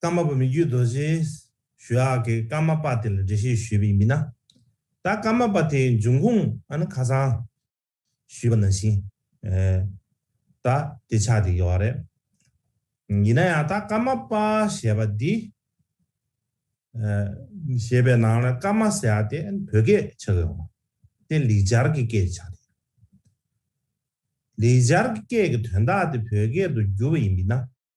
ཀརྨ་པ་མི་རྒྱུད་རྡོ་རྗེ་ཞུ་ཨག་གིས་ཀརྨ་པ་དེ་ལ་འགྲེལ་བཤད་ཞུས་པའི་མི་སྣ། ད་ཀརྨ་པ་དེའི་འབྱུང་ཁུངས་ཨ་ནི་ཁ་སང་ཞུས་པ་ནང་བཞིན་ད་དེ་ཆགས་བསྡད་ཀྱི་བ་རེད། ཡིན་ན་ཡང་ད་ཀརྨ་པ་ཞེས་པ་འདི་ཞེས་པའི་ནང་ལ་ཀརྨ་ཟེར་ཨ་དེ་བོད་སྐད་ཆགས་ཀྱི་བ་དེ་ལིག་སྦྱར་གྱི་སྐད་ཆགས་བསྡད་ཡོད། ལིག་སྦྱར་གྱི་སྐད་ཀྱི་དོན་དག་དེ་བོད་སྐད་དུ་བསྒྱུར་བ་ཡིན་པས་ན།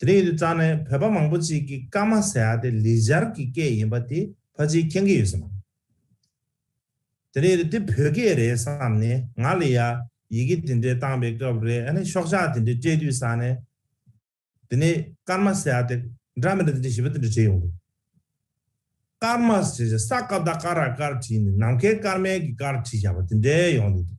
དེ་རིང་ཡུལ་གཙང་ནས་བོད་པ་མང་པོ་ཅིག་གིས་སྐར་མ་ཟེར་ཡ་དེ་ལི་སྦྱར་གྱི་སྐད་ཡིན་པ་དེ་ཕ་ཅིའི་མཁྱེན་གི་ཡོད་སེམས་མོ། དེ་རིང་ཡུལ་འདི་བོད་སྐད་རེད་བསམ་ནས་ང་ལི་ཡ་ཡི་གེ་དེ་འདྲའི་བཏང་པའི་སྐབས་རེ་ཨ་ནི་ཤོག་ཆག་དེ་འདྲའི་སྤྲད་དུས་ས་ནས། དེ་ནས་སྐར་མ་ཟེར་ཡ་དེ་འདྲ་མི་འདྲ་དེ་འདྲ་ཞེས་པ་དེ་འདྲ་བྲིས་ཡོང་དགོས། སྐར་མ་ཟེར་ཡ་ས་སྐར་ཟླ་སྐར་ར་སྐར་བྲིས་ནས་ནམ་མཁའི་སྐར་མའི་གི་སྐར་བྲིས་བཞག་པ་དེ་འདྲའི་ཡོང་དུས་འདུག།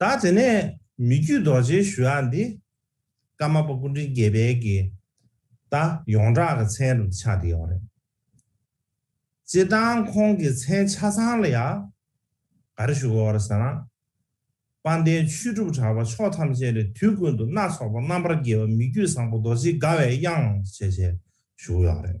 ད་དེ་ནས་མི་རྒྱུད་རྡོ་རྗེའི་ཞུ་བ་འདི། ཀརྨ་པ་ཀུན་འདྲིན་དགེ་འཕེལ་གྱི། ད་ཡོངས་གྲགས་ཀྱི་མཚན་རུ་ཆགས་བསྡད་ཡོད་རེད། སྤྱིར་བཏང་ཁོང་གི་མཚན་ཆ་ཚང་ལ་ཡང། ག་རེ་ཞུ་དགོས་རེད་ཟེར་ན། དཔལ་ལྡན་ཆོས་གྲུབ་གྲགས་པ་ཕྱོགས་ཐམས་ཅད་ནས་དུས་ཀུན་ཏུ་སྣ་ཚོགས་པ་རྣམ་པར་རྒྱལ་བ་མི་རྒྱུད་བཟང་པོ་རྡོ་རྗེའི་དགའ་བའི་དབྱངས་བྱེད་ཅེས་ཞུ་གི་ཡོད་རེད།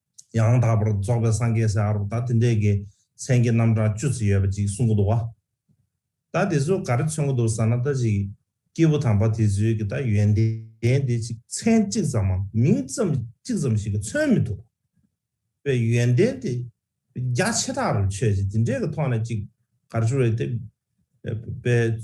ཡང་དག་པར་རྫོགས་པའི་སངས་རྒྱས་སའི་ཨ་རོག་ད་དེ་འདྲས་ཀྱི་མཚན་གྱི་རྣམ་གྲངས་བཅུ་ཙི་ཡོད་པ་ཅིག་གསུང་གི་འདུག་བ། ད་དེ་ཚོ་ག་རེ་མཚོན་གི་འདུག་ཟ་ན་ད་ཅིག་སྐྱེས་བུ་དམ་པ་དེ་ཚོའི་གི་ད་ཡོན་ཏན་དེ་ཅིག་མཚན་གཅིག་ཙམ་མམ་མིང་ཙམ་གཅིག་ཙམ་ཞིག་གི་མཚོན་མི་འདུག་བའི་ཡོན་ཏན་དེ་རྒྱ་ཆེ་དྲག་རུ་ཆོས་ཅིག་དེ་འདྲས་གི་ཐོག་ནས་ཅིག་ག་རེ་བྱུང་རེད་དེ། པའི།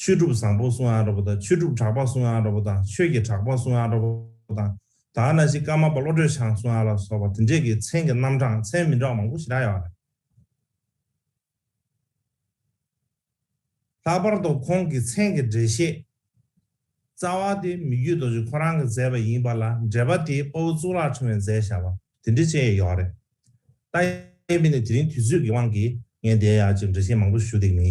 ཆོས་གྲུབ་བཟང་པོ་སུ་ཨན་ར་པོ་དང་ཆོས་གྲུབ་གྲགས་པ་སུ་ཨན་ར་པོ་དང་ཆོས་ཀྱི་གྲགས་པ་སུ་ཨན་ར་པོ་དང་དར་ནག་ཤི་ཀ་མ་པ་བློ་གྲོས་ཆང་སུ་ཨན་ལ་སོགས་པ་དེ་འདྲས་ཀྱི་མཚན་གྱི་རྣམ་གྲངས་མཚན་མི་འདྲ་བ་མང་པོ་ཞིག་གྲགས་ཡོད་པ་རེད། ལྷག་པར་དུ་ཁོང་གི་མཚན་གྱི་འགྲེལ་བཤད་རྩ་བ་དེ་མི་རྒྱུད་རྡོ་རྗེ་ཁོ་རང་གིས་མཛད་པ་ཡིན་པ་ལ་འགྲེལ་པ་དེ་དཔའ་བོ་གཙུག་ལག་ཕྲེང་བས་མཛད་བཞག་པ་དེ་འདྲས་བཅས་ཡོད་ཡོད་རེད། ལྟ་ཡས་པས་ནི་དེ་རིང་དུས་ཚོད་ཀྱི་དབང་གིས་ངས་འདའི་ཡ་གཅིག་འགྲེལ་བཤད་མང་པོ་ཞུ་འདེགས་མི་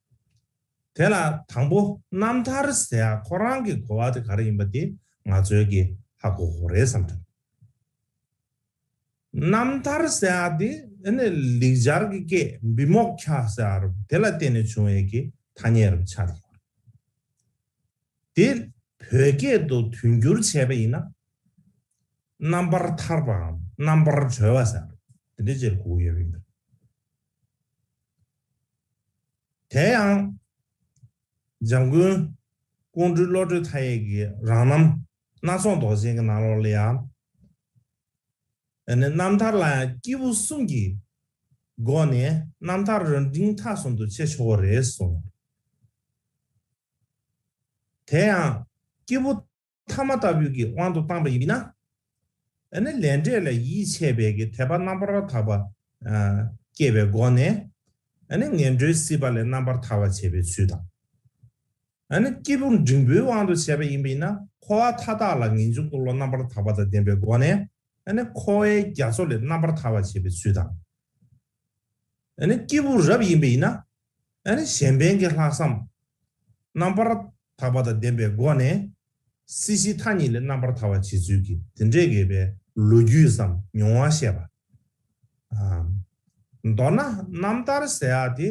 དེ་ལ་དང་པོ་རྣམ་ཐར་ཟེར་ཡ་ཁོ་རང་གི་གོ་བ་དེ་ག་རེ་ཡིན་པ་དེ་ང་ཚོའི་གི་ཧ་གོ་གོ་རེད་བསམ་དྲགས། རྣམ་ཐར་ཟེར་ཡ་དེ་ནི་ལེགས་སྦྱར་གི་སྐད་འབི་མོག་ཁྱ་ཟེར་ཡ་རུ་དེ་ལ་བརྟེན་ནས་བྱུང་བའི་གི་ཐ་སྙད་རུ་ཆགས་ཡོད་རེད། དེ་བོད་སྐད་དུ་དོན་བསྒྱུར་བྱས་པ་ཡིན་ན། རྣམ་པར་ཐར་པའམ་རྣམ་པར་གྲོལ་བ་ཟེར་ཡ་རུ་དེ་འདྲའི་ཆེར་གོ་གི་ཡོད་པ་ཡིན་པས། དེ་ཡང། འཇམ་མགོན། ཀོང་སྤྲུལ་བློ་གྲོས་མཐའ་ཡས་ཀྱི་རང་རྣམ། སྣ་ཚོགས་མདོག་ཅན་གྱི་ནང་ལོགས་ལ་ཡང། རྣམ་ཐར་ལ་ཡང་སྐྱེས་བུ་གསུམ་གྱི། སྒོ་ནས་རྣམ་ཐར་རོལ་འབྲིང་མཐའ་གསུམ་དུ་འཆད་ཆོག་པ་རེད་གསུངས། དེ་ཡང། སྐྱེས་བུ། ཐ་མ་ལྟ་བུའི་གི་དབང་དུ་བཏང་བ་ཡིན། ན་ནི་ལས་འབྲས་ལ་ཡིད་ཆེས་པའི་གི་དད་པ་རྣམ་པར་དག་པ་སྐྱེས་པའི་སྒོ་ནས། ནི་ངན་འགྲོའི་སྲིད་པ་ལས་རྣམ་པར་ཐར་བར་བྱེད་པའི་ཚུལ་དང། ནི་སྐྱེས་བུ་འབྲིང་པོའི་དབང་དུ་བྱས་པ་ཡིན་པས་ན་འཁོར་བ་མཐའ་དག་ལ་ངེས་འབྱུང་འཁོར་ལོ་རྣམ་པར་དག་པ་དང་ལྡན་པའི་སྒོ་ནས། ནི་འཁོར་བའི་རྒྱ་མཚོ་ལས་རྣམ་པར་ཐར་བར་བྱེད་པའི་ཚུལ་དང། ནི་སྐྱེས་བུ་རབ་ཡིན་པས་ན། གཞན་ཕན་གྱི་ལྷག་བསམ། རྣམ་པར་དག་པ་དང་ལྡན་པའི་སྒོ་ནས། སྲིད་ཞིའི་མཐའ་གཉིས་ལས་རྣམ་པར་ཐར་བར་བྱེད་ཚུལ་གྱི་དེ་འདྲའི་དགེ་བའི་ལོ་རྒྱུས་སམ་མྱོང་བ་བཤད་པ། མདོར་ན་རྣམ་ཐར་ཟེར་ཡག་དེ་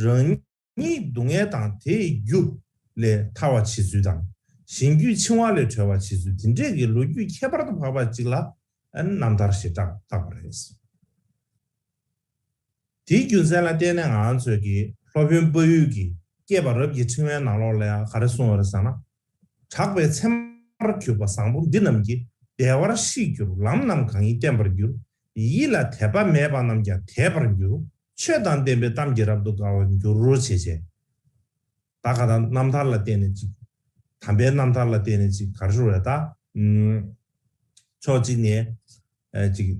རང་ཉིད་སྡུག་བསྔལ་དང་དེའི་རྒྱུ་ལས་ཐར་བར་བྱེད་ཚུལ་དང། གཞན་རྒྱུད་འཆིང་བ་ལས་གྲོལ་བར་བྱེད་ཚུལ་དེ་འདྲའི་དགེ་ལོ་རྒྱུས་ཁྱད་པར་དུ་འཕགས་པ་ཅིག་ལ་རྣམ་ཐར་ཞེས་བཏགས་པ་རེད། དེའི་རྒྱུ་མཚན་ལ་བརྟེན་ནས་ང་ཚོས་ཀྱི་སློབ་དཔོན་དཔའ་ཡུལ་གྱིས་བསྐྱེད་པ་རབ་ཀྱི་ཕྲེང་བའི་ནང་ལོགས་ལས་ག་རེ་གསུངས་འོད་ཟེར་ན། གྲགས་པའི་མཚན་མར་གྱུར་པ་བཟང་པོ་འདི་རྣམས་ཀྱིས་བདེ་བར་ཤིས་གྱུར་ལམ་རྣམས་གང་ཡིན་བསྟན་པར་འགྱུར། ཡིད་ལ་དད་པ་མེད་པ་རྣམས་ཀྱང་དད་པར་འགྱུར། ཆོས་དང་ལྡན་པའི་གཏམ་གྱིས་རབ་ཏུ་དགའ་བར་འགྱུར་རོ་བྱེད་ཅེས། ད་ག་དང་རྣམ་ཐར་ལ་བརྟེན་ནས་ཅིག། དམ་པའི་རྣམ་ཐར་ལ་བརྟེན་ནས་ཅིག་གར་ཤོར་བས་ད། ཕྱོགས་གཅིག་ནས། ཅིག།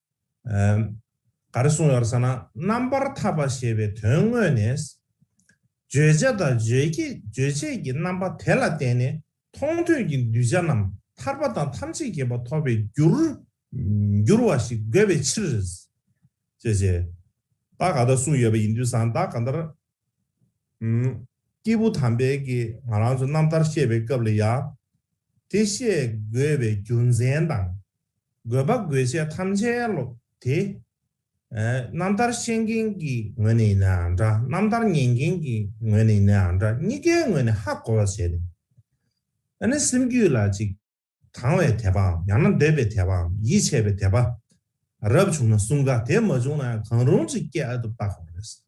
ག་རེ་གསུངས་ཡོད་ཟེར་ན་རྣམ་པར་ཐར་པ་ཞེས་པའི་དོན་དངོས་ནས། བརྗོད་བྱ་དང་རྗོད་བྱེད་ཀྱི་རྣམ་པ་དེ་ལ་བརྟེན་ནས་མཐོང་ཐོས་ཀྱི་གདུལ་བྱ་རྣམས་ཐར་པ་དང་ཐམས་ཅད་ཀྱི་བ་ཐོབ་པའི་རྒྱུར་འགྱུར་བ་ཞིག་དགོས་པའི་ཕྱིར། ཅེས་བྱས། བདག་ག་ལྟར་གསུངས་ཡོད་པ་ཡིན་དུས་སང་བདག་ག་ལྟར། སྐྱེས་བུ་དམ་པས་ཀྱིས་ང་རང་ཚོ་རྣམ་ཐར་བཤད་པའི་སྐབས་ལ་ཡང། དེ་བཤད་དགོས་པའི་རྒྱུ་མཚན་དང། དགོས་པ་དགོས་ཆེད་ཐམས་ཅད་སློབ་དེ། རྣམ་ཐར་ཤེས་མཁན་གྱི་ངོས་ནས་ཡིན་ནའང་འདྲ་རྣམ་ཐར་ཉན་མཁན་གྱི་ངོས་ནས་ཡིན་ནའང་འདྲ་གཉིས་ཀའི་ངོས་ནས་ཧ་གོ་བར་བྱས་ཏེ། ཨ་ནི་སེམས་རྒྱུད་ལ་ཅིག། དང་བའི་དད་པའམ་ཡང་ན་འདོད་པའི་དད་པའམ་ཡིད་ཆེས་པའི་དད་པ། རབ་བྱུང་ན་གསུམ་ག་དེ་མ་བྱུང་ན་ཡང་གང་རུང་ཅིག་སྐྱེ་ཨ་ཐུབ་བརྟག་དགོས་པ་རེད།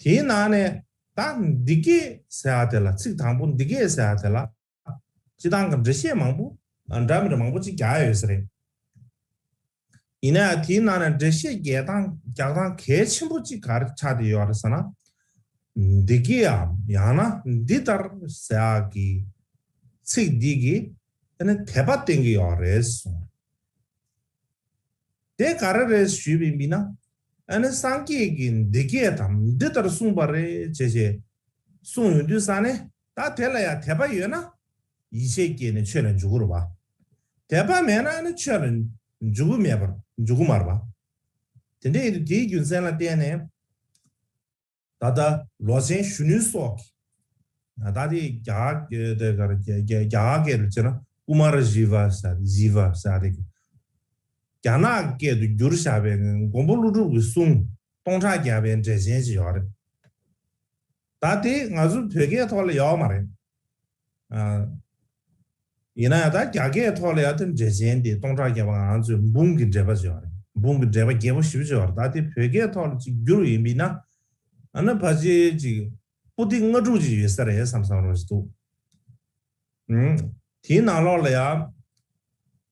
དེའི་ནང་ནས་ད་འདི་སྐད་ཟེར་བ་དེ་ལ་ཚིག་དང་པོ་འདི་སྐད་ཟེར་བ་དེ་ལ་སྤྱི་བཏང་གི་འགྲེལ་བཤད་མང་པོ། འདྲ་མི་འདྲ་མང་པོ་གཅིག་རྒྱག་ཡོད་ས་རེད། ཡིན་ན་ཡང་དེའི་ནང་ནས་འགྲེལ་བཤད་རྒྱག་སྟངས་གལ་ཆེན་པོ་གཅིག་ག་རེ་ཆགས་བསྡད་ཡོད་རེད་ཟེར་ན། འདི་སྐད་འམ་ཡང་ན་འདི་ལྟར་ཟེར་བ་གི་ཚིག་འདི་གིས་དེ་ནི་དད་པ་བསྟན་གྱི་ཡོད་རེད་གསུངས། དེ་ག་རེ་རེད་ཞུས་པའི་མི་ན། ཨ་ནི་སངས་རྒྱས་ཀྱིས་འདི་སྐད་དམ་འདི་ལྟར་གསུངས་པ་རེད་ཅེས་བྱས། གསུངས་ཡོང་དུས་ས་ནི། ད་དེ་ལ་ཡང་དད་པ་ཡོད་ན། ཡིད་ཆེས་སྐྱེས་ནས་ཆོས་ལ་འཇུག་གུ་རུ་བ། དད་པ་མེད་ན་ནི་ཆོས་ལ་འཇུག་གུ་མེད་པར་འཇུག་གུ་མར་བ། དེ་འདྲའི་དུས་དེའི་རྒྱུ་མཚན་ལ་བརྟེན་ནས། ད་ལྟ་ལོ་ཆེན་གཞོན་ནུ་སོགས་ཀྱིས། ད་ལྟ་དེ་རྒྱ་སྐད་དུ་བྱས་ན Kumar Jivasaar Jivasaar རེད། རྒྱ་ནག་སྐད་དུ་བསྒྱུར་བཞག་པའི་མགོན་པོ་ཀླུ་སྒྲུབ་ཀྱི་གསུང་སྟོང་ཕྲག་བརྒྱ་པའི་འགྲེལ་ཆེན་ཅིག་ཡོད་རེད། ད་དེ་ང་ཚོའི་བོད་སྐད་ཐོག་ལ་ཡོད་མ་རེད། ཡིན་ན་ཡང་ད་རྒྱ་སྐད་ཐོག་ལ་ཡང་དེ་འདྲའི་འགྲེལ་ཆེན་དེ་སྟོང་ཕྲག་བརྒྱ་པ་ང་ཚོས་འབུམ་གྱི་འགྲེལ་པ་བརྗོད་པ་རེད་འབུམ་གྱི་འགྲེལ་པ་བརྒྱད་པོ་བཞི་པོ་བརྗོད་པ་རེད་ད་དེ་བོད་སྐད་ཐོག་ལ་གཅིག་བསྒྱུར་བ་ཡིན་པས་ན། ཨ་ན་བྷ་ཇེ་ཅིག་པོ་ཏི་ལྔ་དྲུག་ཅིག་ཡོད་ས་རེད་བསམ་བསམ་རང་བཞིན་འདུག་དེའི་ནང་ལོགས་ལ་ཡང།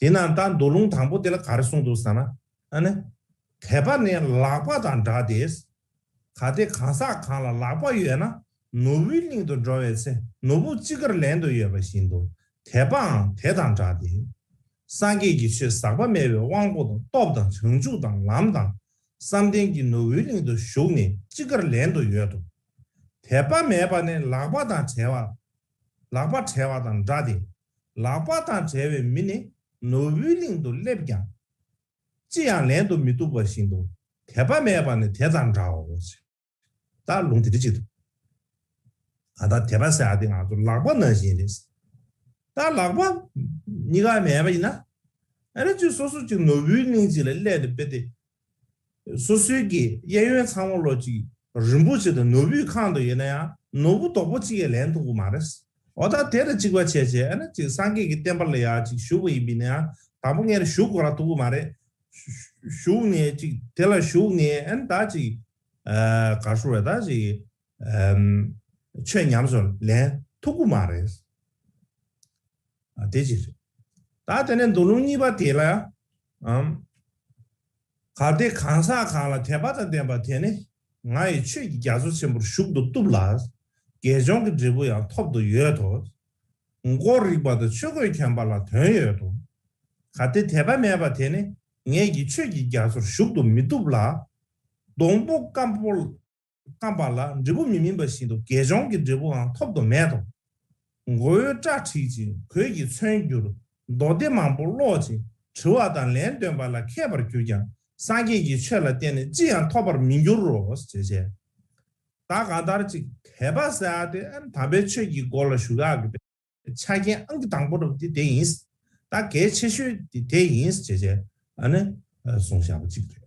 དེས་ན་ད་མདོ་ལུང་དང་པོ་དེ་ལ་ག་རེ་གསུངས་འདུག་ཟེར་ན། ཨ་ནི། དད་པ་ནི་ལག་པ་དང་འདྲ་སྟེ། གལ་ཏེ་གང་ཟག་གང་ལ་ལག་པ་ཡོད་ན་ནོར་བུའི་གླིང་དུ་འགྲོ་བའི་ཚེ་ནོར་བུ་ཅི་དགར་ལེན་དུ་ཡོད་པ་བཞིན་དུ་དད་པའང་དེ་དང་འདྲ་སྟེ། སངས་རྒྱས་ཀྱི་ཆོས་ཟག་པ་མེད་པའི་དབང་པོ་དང་སྟོབས་དང་བྱང་ཆུབ་དང་ལམ་དང་བསམ་གཏན་གྱི་ནོར་བུའི་གླིང་དུ་ཞུགས་ནས་ཅི་དགར་ལེན་དུ་ཡོད་དོ། དད་པ་མེད་པ་ནི་ལག་པ་དང་བྲལ་བ། ལག་པ་བྲལ་བ་དང་འདྲ་སྟེ། ལག་པ་དང་བྲལ་བའི་མི་ནི་ནོར་བུའི་གླིང་དུ་སླེབས་ཀྱང། ཅི་ཡང་ལེན་དུ་མི་བཏུབ་པ་བཞིན་དུ་དད་པ་མེད་པ་ནི་དེ་དང་འདྲའོ། བདག་ལུང་དེ་འདི་ཅི་ཐུབ། ང་དང་དད་པ་ཟེར་བ་འདི་ང་ཚོ་ལག་པ་ན་བཞིན་རེད། བདག་ལག་པ་གཉིས་ཀ་མེད་པ་ཡིན་ན། ཨ་རི་ཅིག་སོ་སོ་ཅིག་ནོར་བུའི་གླིང་ཅིག་ལ་སླེབས་ནས་དཔེ་དེབ་སོ་སོའི་གི་གཡས་གཡོན་ཚང་མ་ལོ་གཅིག་རིན་པོ་ཆེ་དང་ནོར་བུའི་ཁང་དུ་ཡོད་ན་ཡང་ནོར་བུ་དོག་པོ་གཅིག་ཡས་ལན་ཐུག་པོ་མ་རེད། འོ་ད་དེར་གཅིག་པ་བྱས་བྱས་ཨ་ན་གཅིག་སངས་རྒྱས་ཀྱི་བསྟན་པ་ལ་ཡག་གཅིག་ཞུགས་པ་ཡིན་པས་ན་ཡང་དང་པོ་ངས་ཞུགས་དགོས་ར་ཐུག་པོ་མ་རེད། ཞུགས་ནས་གཅིག་དེ་ལ་ཞུགས་ནས་ཨ་ན་ད་གཅིག་ག་ཧྲུ་རེད་ད་གཅིག་ཆོས་ཉམས་སུ་ལན་ཐུག་པོ་མ་རེད། དེ་གཅིག་རེད། ད་དེ་ནས་མདོ་ལུང་གཉིས་པ་དེ་ལ་ཨམ། གལ་ཏེ་གང་ཟག་གང་ལ་དད་པ་དང་ལྡན་པ་དེ་ནི་ང་ཡི་ཆོས་ཀྱི་རྒྱ་མཚོ་ཆེན་པོར་ཞུགས་ཏུ་བཏུབ་ལ། དགེ་སྦྱོང་གི་འབྲས་བུ་ཡང་ཐོབ་ཏུ་ཡོད་དོ། མགོ་རིག་པ་དང་ཆོས་གོས་གྱོན་པ་ལ་དོན་ཡོད་དོ། གལ་ཏེ་དད་པ་མེད་པ་དེ་ནི་ངེད་ཀྱི་ཆོས་ཀྱི་རྒྱ་མཚོར་ཞུགས་ཏུ་མི་བཏུབ་ལ། སྡོང་པོ་སྐམ་པོ། རྐང་པ་ལ་འབྲས་བུ་མི་སྨིན་པ་བཞིན་དུ་དགེ་སྦྱོང་གི་འབྲས་བུའང་ཐོབ་ཏུ་མེད་དོ། མགོ་བོའི་སྐྲ་བྲེག་ཅིང་གོས་ཀྱིས་མཚོན་གྱུར། མདོ་སྡེ་མང་པོ་ཀློག་ཅིང་དྲི་བ་དང་ལན་ལྡོན་པ་ལ་མཁས་པར་གྱུར་ཀྱང་སངས་རྒྱས་ཀྱི་ཆོས་ལ་བརྟེན་ནས་ཅི་ཡང་ཐོབ་པར་མི་འགྱུར་རོ། ཞེས་བྱའི། བདག་གང་ལྟར་ཅིག་དད་པ་བསལ་ཏེ་དམ་པའི་ཆོས་ཀྱི་སྒོ་ལ་ཞུགས་ཡག་པའི་ཆ་རྐྱེན་ཨང་གི་དང་པོ་རུ་དེ་དེ་ཡིན། དང་གལ་ཆེ་ཤོས་དེ་དེ་ཡིན། ཞེས་བྱའི། གསུངས་བཞག་པ་གཅིག་རེད།